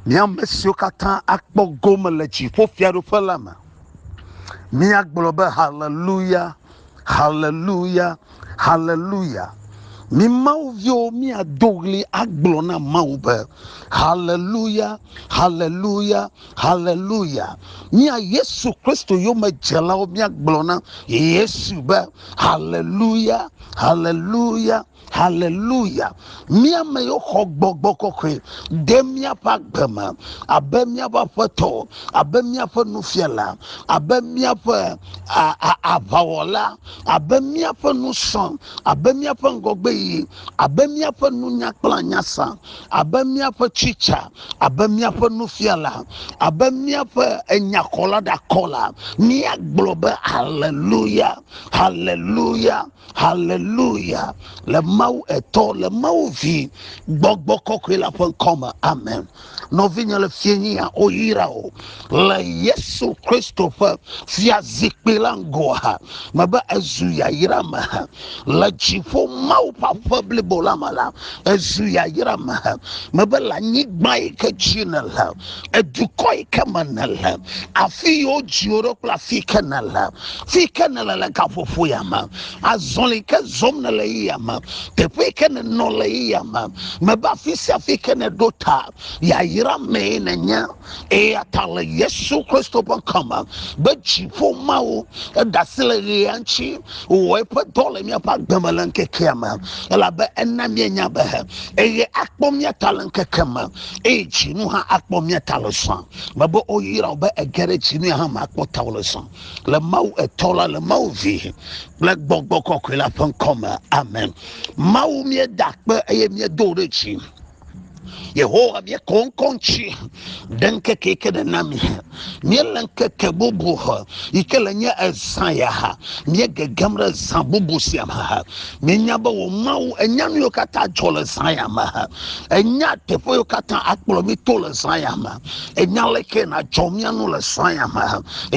Míame siwo katã akpɔ gome le dziƒo fiaɖuƒe la me. Míagblɔ be haleluya, haleluya, haleluya. Mi Mawu viwo míado ɣli agblɔ na Mawu be haleluya, haleluya, Haleluya! Mía Yesu Kristo yomedzelawo míagblɔ na Yesu be, Haleluya, haleluya, haleluya. Mía me xɔ gbɔgbɔ kɔkɔe de míaƒe agbe me abe míaƒe aƒetɔ, abe míaƒe nufiala, abe míaƒe aʋawɔla, abe míaƒe nusrɔ̃, abe míaƒe ŋgɔgbe yi abe míaƒe nunya kple anyasa, abe míaƒe tsitsa, abe míaƒe nufiala, abe míaƒe enyakɔla ɖakɔla, míagblɔ be haleluya, haleluya, haleluya le Mawu etɔ, le Mawu vi, gbɔgbɔ kɔkɔe la ƒe ŋkɔ me. Amen. nɔvinye le fiẽnyia woyra o le yesu kristo ƒe fia zikpui la ŋgɔ ha mebe ezu yayra me ha le dziƒo mawu ƒe aƒe blibo la me la ezu yayra me ha mebe le anyigba yi ke dzi ne le edukɔ yi ke me ne le afi yi wodziwo ɖo kple afi yi ke ne le fi yi ke ne le le gaƒoƒo ya me azɔli ke zɔm ne le yi yame teƒe ke ne nɔ le yi yame mebe afi sia afi ke ne ɖo ta yayra mee ne nye eya ta le yesu kristo ƒe kɔme be dziƒo mawo edasi le ɣea ŋuti wɔ eƒe dɔ le míaƒe agbeme le ŋkekea me elabe ena míenya be eye akpɔ mía ta le ŋkeke me eye dzinu hã akpɔ mía ta le zã mebe oyra be ege ɖe dzinu hã me akpɔ ta le zã le mawu etɔ la le mawu vi kple gbɔgbɔ kɔkɔe la ƒe ŋkɔ me amen mawu míeda kpe eye míedo ɖe dzi yehowa míekɔ ŋkɔ ŋuti ɖe ŋkeke yi ke nèna mi míele ŋkeke bubu yi ke le nye ezã ya ha míegegem ɖe zã bubu sia me ha míenya be wò mawu enya nu yiwo katã dzɔ le zã ya me ha enya teƒe yiwo katã akplɔ mí to le zã ya me Ènya leke nàdzɔ mía nu le srɔ̃ya me,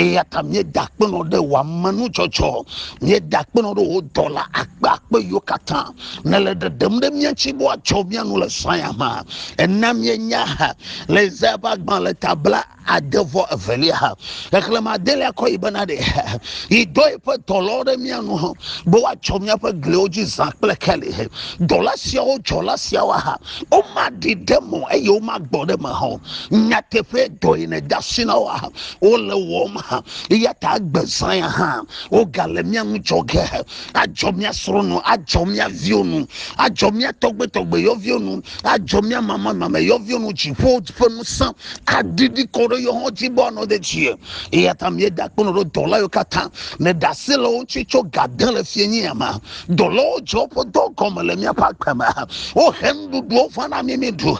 eya ta míeda akpenɔ ɖe wò amenudzɔdzɔ, míeda akpenɔ ɖe wò dɔla akpe akpe yiwo katã nèle ɖeɖem ɖe mía ŋuti be woadzɔ mía nu le srɔ̃ya me. Èna míenya le Yesaya ƒe agbalẽ ta bla ade vɔ evelia xexlẽme adelia kɔ yi bena ɖe yi dɔ eƒe dɔlawo ɖe mía nu be woadzɔ míaƒe gliwo dzi zã kple keli. Dɔla siawo dzɔla siawo womaɖi ɖe mo eye womagbɔ ɖe me hã o nyateƒe dɔ yi ne dasi na wo hã wole wɔm hã eya ta agbezã ya hã wogale mía ŋu dzɔ ge adzɔ mía srɔ̃ nu adzɔ mía viwo nu adzɔ mía tɔgbetɔgbe yɔviwo nu adzɔ mía mamamame yɔviwo nu dziƒo ƒe ŋusẽ aɖiɖi kɔ ɖe yewo hã dzi be woanɔ ɖe dzie eya ta míeda kpɔnɔ ɖo dɔla yiwo katã ne ɖase le wo ŋuti tso gade le fienyi ya ma Dɔlawo dzea woƒe dɔ gɔme le míaƒe agbe me. Wohe nuɖuɖuwo va na mí míeɖu,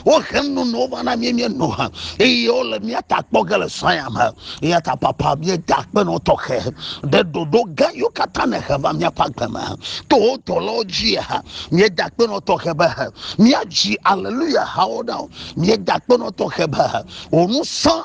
wohe nunonowo va na mí míeno, eye wole mía ta kpɔ ge le sɔya me. Eya ta papa míeda akpenɔ tɔxɛ ɖe ɖoɖo gã yiwo katã nèhe va míaƒe agbe me to wo dɔlawo dzi. Míeda akpenɔ tɔxɛ be míadzi aleluya hawo na wò. Míeda akpenɔ tɔxɛ be wò ŋusẽ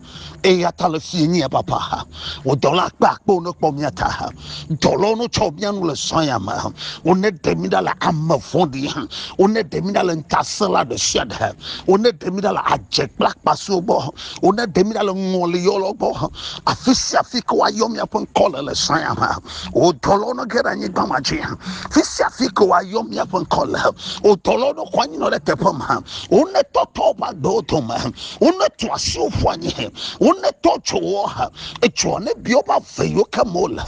Eya ta le fie nye papa. Wò dɔla akpe akpe wone kpɔ mía ta. Dɔlawo no tsɔ mía nu le zã ya me. Wone ɖe mí ɖa le ame vɔɖi. Wone ɖe mí ɖa le ŋutasẽla ɖe sia ɖe. Wone ɖe mí ɖa le adze kple akpasiwo gbɔ. Wone ɖe mí ɖa le ŋɔli yɔlɔ gbɔ. Afi sia afi ke woayɔ mía ƒe ŋkɔ le le zã ya me. Wò dɔlawo no ge ɖe anyigba ma dzi. Fi sia fi ke woayɔ mía ƒe ŋkɔ le. Wò dɔlawo no xɔ anyinɔ ɖe teƒe ma. Wone tɔtɔ woƒe agbewo dome. wone to asiwo ƒu anyi he wone tɔ tso wo he etsɔ ne bi woƒe ave yiwo ke mo le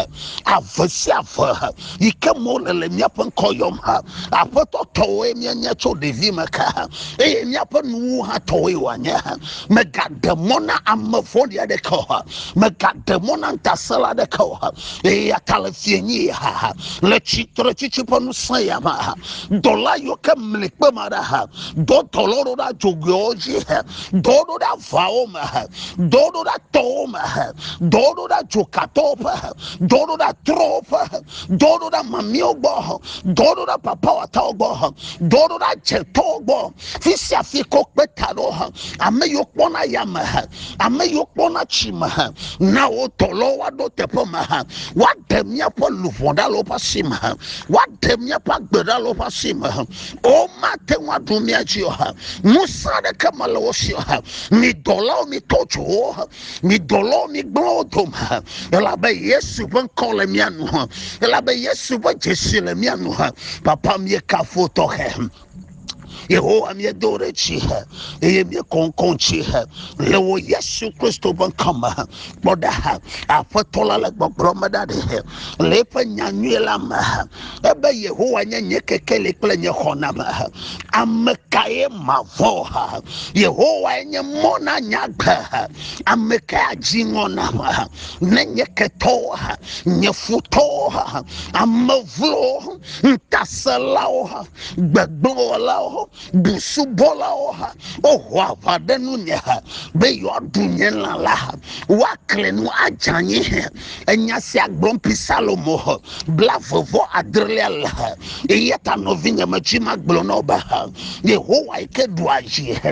ave sia ave he yi ke mo le le míaƒe ŋkɔ yɔm he aƒetɔ tɔwoe míanye tso ɖevi me ke he eye míaƒe nuwo hã tɔwoe wòanye he megaɖe mɔ na ame vɔ̃ɖi aɖeke o he megaɖe mɔ na ŋutasẽla aɖeke o he eya ta le fie nyi ha he le tsitre tsitsi ƒe ŋusẽ ya me he dɔla yiwo ke mli kpema ɖa he dɔ dɔlɔ ɖo ɖa dzogoewo dzi he dɔ ɖo ɖa vawo me he dɔ ɖo ɖa tɔwo me he dɔ ɖo ɖa dzokatɔwo ƒe he dɔ ɖo ɖa trɔwo ƒe he dɔ ɖo ɖa mamiwo gbɔ he dɔ ɖo ɖa papawatawo gbɔ he dɔ ɖo ɖa dzetɔwo gbɔ fi sia fi kɔ kpe ta ɖo he ame yiwo kpɔna ya me he ame yiwo kpɔna tsi me he na wo dɔlɔ woaɖo teƒe me he woaɖe míaƒe luʋɔ ɖa le woƒe asi me he woaɖe míaƒe agbe ɖa le woƒe asi me he o mate ŋu aɖu mía dzi o ha ŋusẽ aɖeke mele wo si o ha mi dɔlawo mi tɔ tso wo ha mi dɔlawo mi gblẽ wo dome ha elabe yesu ƒe ŋkɔ le mía nu ha elabe yesu ƒe dzesi le mía nu ha papa mi kafo tɔxɛ yehowa mi do ɖe tsi ha eye mi kɔnkɔn tsi ha le wo yesu kristu ƒe ŋkɔ me ha kpɔ ɖa ha aƒetɔ la le gbɔgblɔ me ɖa ɖe ha le eƒe nyanyui la me ha ebe yehowa nye nye kekeli kple nye xɔname ame kae mavɔ yehowae nye mɔ na nye agbe ame kae adzi ŋɔ nam ne nye ketɔwo nye futɔwo ame vlowo ŋutaselawo gbegbewɔlawo busubɔlawo woho aʋa ɖe nunye be yewoaɖu nye lã la woakle nu adzanyi Enya sia gblɔm pi Salomo he blavevɔ adrelia le he. Eya ta nɔvinye metsi magblɔ na wo be he. Yehowa yi ke ɖua dzi he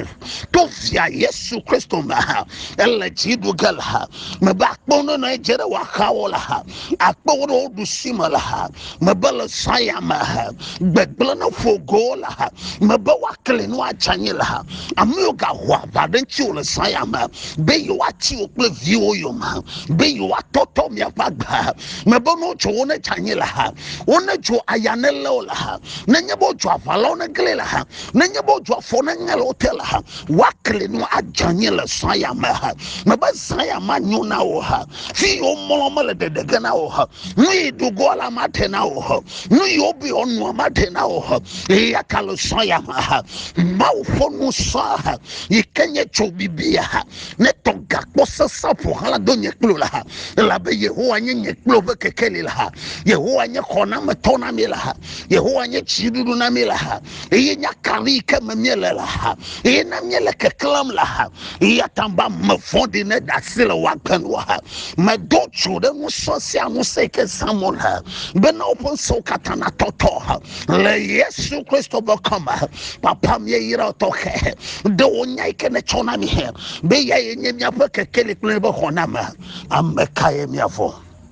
to via Yesu Kristo me he. Ele dzi ɖu ge le he. Mebe akpɔ nɔnɔ edze ɖe woaxawo le he. Akpɔ wo ɖe wo ɖusi me le he. mebe le saya me ha gbegblẽ ne ƒo go le ha mebe woakli nu atsanye le ha ame yiwo gaho aʋa ɖe ŋutiwo le saya me be yewoati wo kple viwo yome be yewoatɔtɔ miaƒe agbe ha mebe ne wotso wo ne tsanye le ha wo ne tso aya ne lé wo le ha nenye be wotso aʋalawo ne gli le ha nenye be wotso afɔ ne ŋe le wo te le ha woakli nu adzanye le saya me ha mebe saya ma nyo na wo ha fi yo mɔlɔ mele ɖeɖege na o ha nu yi dugɔ la ma te na o ha nu yi obi ɔnua ma te na o ha eya ka lo sɔn ya ma ha mawu ƒe nu sɔn ha yi ke nye tso bibi ya ha ne tɔ gakpɔ sesa ƒo hala do nye kplo la ha elabe yehowa nye nye kplo ƒe kekeli la ha yehowa nye xɔnametɔ na mi la ha yehowa nye tsiɖuɖu na mi la ha eye nya kaɖi yi ke me míele le ha eye ne míele keklẽm le ha eya ta be ame vɔ̃ɖi ne ɖe asi le woagbe nu ha medo tso ɖe ŋusẽ sia ŋusẽ ke zãm wole bena woƒe ŋusẽwo katã natɔtɔ ha le yesu kristo ƒe kɔme papa míeyra tɔxɛ ɖe wo nya yi ke netsɔ na mi he be ya ye nye míaƒe kekeli kple eƒe xɔname ame kae míavɔ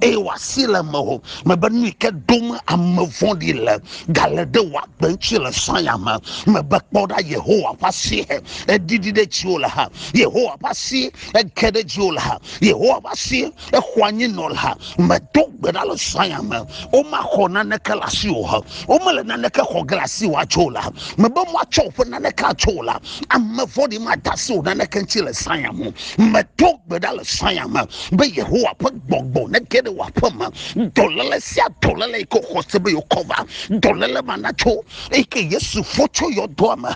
eye wòasi le me o mebe nu yi ke dom ame vɔ̃ɖi le gale ɖe wò agbe ŋuti le sanya me mebe kpɔ ɖa yehowa ƒe asi eɖiɖi ɖe dziwò le ha yehowa ƒe asi eke ɖe dziwò le ha yehowa ƒe asi exɔ anyi nɔ le ha medo gbe ɖa le sanya me womaxɔ naneke le asi o ha womele naneke xɔ ge le asi o atso la mebe moatsɔ woƒe naneke atso la ame vɔ̃ɖi mada asi o naneke ŋuti le sanya me medo gbe ɖa le sanya me be yehowa ƒe gbɔgbɔ ne ge ɖe wò aƒe me dɔléle sia dɔléle yi ke wòxɔ se be yeokɔ va dɔléle ma natso eyi ke yesu fɔ tso yɔdoa me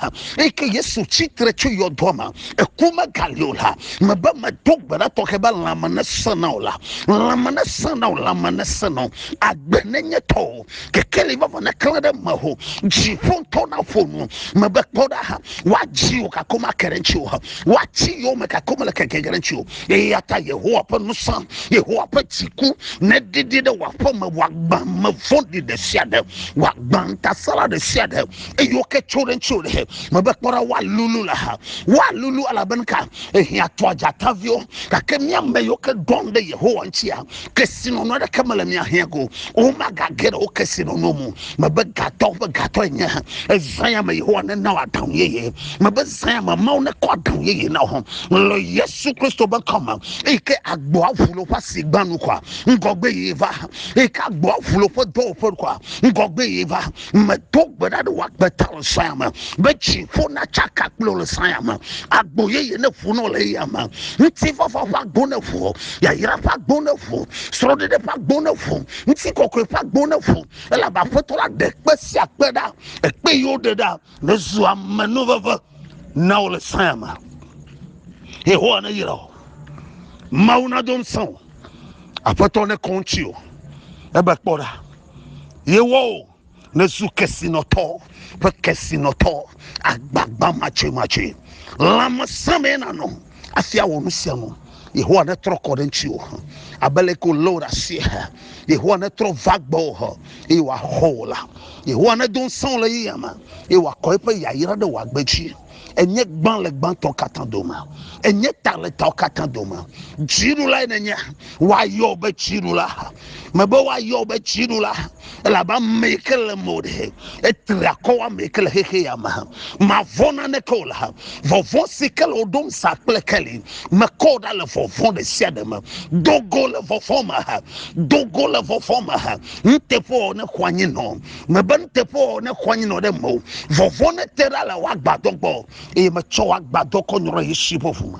eyi ke yesu tsitre tso yɔdoa me eku megali o la mebe medo gbe ɖa tɔxɛ be lãme nesẽ na o la lãme nesẽ na o lãme nesẽ na o agbe nenye tɔ o kekeli vava neklẽ ɖe me o dziƒo ŋutɔ naƒo nu mebe kpɔ ɖa ha woadzi o gake womake ɖe ŋuti o ha woatsi yome gake womele keke ɖe ŋuti o Eya ta Yehowa ƒe ŋusẽ, Yehowa ƒe dziku neɖiɖi ɖe wò aƒe me, wòagbã ame vɔ̃ɖi ɖe sia ɖe, wòagbã ŋutasẽla ɖe sia ɖe, eye woke tso ɖe ŋuti o ɖe. Mebe kpɔ ɖa, woalulu le ha, woalulu elabena ka? Ehiã tɔa dzataviwo, gake mía ame yiwo ke ɖɔn ɖe Yehowa ŋutia, kesinɔnu aɖeke mele mia hiã ko womagage ɖe wo kesinɔnu mu mebe gatɔ ƒe gatɔ enye ezã ya me yehowa nena wɔ aɖaŋu yeye mebe zã ya me mawu nekɔ aɖaŋu yeye na wo le yesu kristo be kɔme eyi ke agboa ʋu le woƒe asi gbanu kɔa ŋgɔgbe yeye va eyi ke agboa ʋu le woƒe dɔwɔƒe kɔa ŋgɔgbe yeye va medo gbe ɖa ɖe wò agbeta le saya me be dziƒo natsaka kple wò le saya me agbo yeye ne ƒu nɔ le eya me ŋutifafa ƒe agbo ne ƒu yayra ƒe agbo ne ƒu srɔ̃ɖeɖe ƒe agbo ne ƒu ŋutikɔkɔe ƒe agbo ne ƒu elabe aƒetɔ la ɖe kpe sia kpe ɖa ekpe yi woɖe ɖa nezu ame nu veve na wò le saya me yehowa ne yra o mawu nado ŋusẽ o aƒetɔ ne kɔ ŋuti o ebe kpɔ ɖa Yewɔwò nèzu kesinɔtɔ ƒe kesinɔtɔ, agbagbamatsɛmatsɛ. Lãmesẽ mee nànɔ hafi awɔ nu sia nu. Yehowa netrɔ kɔ ɖe ŋutiwò abe ale ke wòlé wò ɖe asie he. Yehowa netrɔ va gbɔwò he, eye wòaxɔ wò la. Yehowa nedo ŋusẽ wò le yeyea me, eye wòakɔ eƒe yayra ɖe wò agbe dzi. enye gbã le gbãtɔ katã dome enye ta le tɔ katã dome dziɖula yi nenye woayɔ be dziɖula mebe woayɔ be dziɖula elabe ame yi ke le mo ɖe etri akɔ ame yi ke le xexe ya me mavɔ naneke o le vɔvɔ si ke le woɖom sa kple keli mekɔ ɖa le vɔvɔ ɖe sia ɖe me dogo le vɔvɔ me dogo le vɔvɔ me nuteƒe ne xɔ anyi nɔ mebe nuteƒewɔwɔ nexɔ anyi nɔ ɖe mewò vɔvɔ ne te ɖa le wò agbadɔ gbɔ eye metsɔ wò agbadɔ kɔ nyrɔ yesu ƒe ʋu me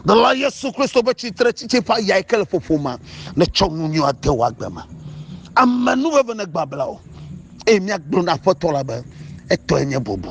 dɔla yesu kristo be tsitre tsitsi ƒe ayae ke le ƒoƒo ma netsɔ nu nyui ade wò agbe me ame nu veve ne gbabla o eye míagblɔ na aƒetɔ la be etɔe nye bubu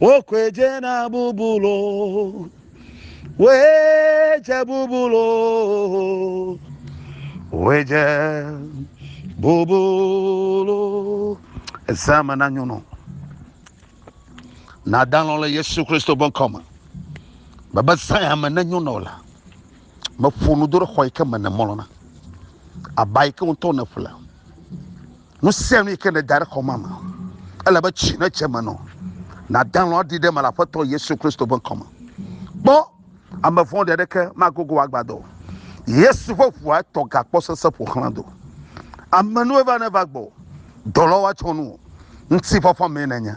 wokɔe dze na bubulu woe dze bubulu woe dze bubulu ezame na nyɔnu nadalɔ le yesu kristu ƒe ŋkɔme bebe saya me ne nyɔnu la meƒo nu do ɖe xɔ yi ke me ne mɔlɔna aba yi ke ŋutɔ ne ƒle Nu sia nu yi ke nèda ɖe xɔ ma me, ele be tsi ne tse me nɔ. Nàda lɔ̃ aɖi ɖe eme le Aƒetɔ Yesu Kristo ƒe ŋkɔ me. Kpɔ, ame vɔ̃ɖi aɖeke magogo wò agbadɔ o. Yesu ƒe ʋua tɔ gakpɔ sese ƒo xlã do. Ame nue va ne va gbɔ, dɔlɔ̃ woatsɔ nu o. Ŋutifafa mee nènye.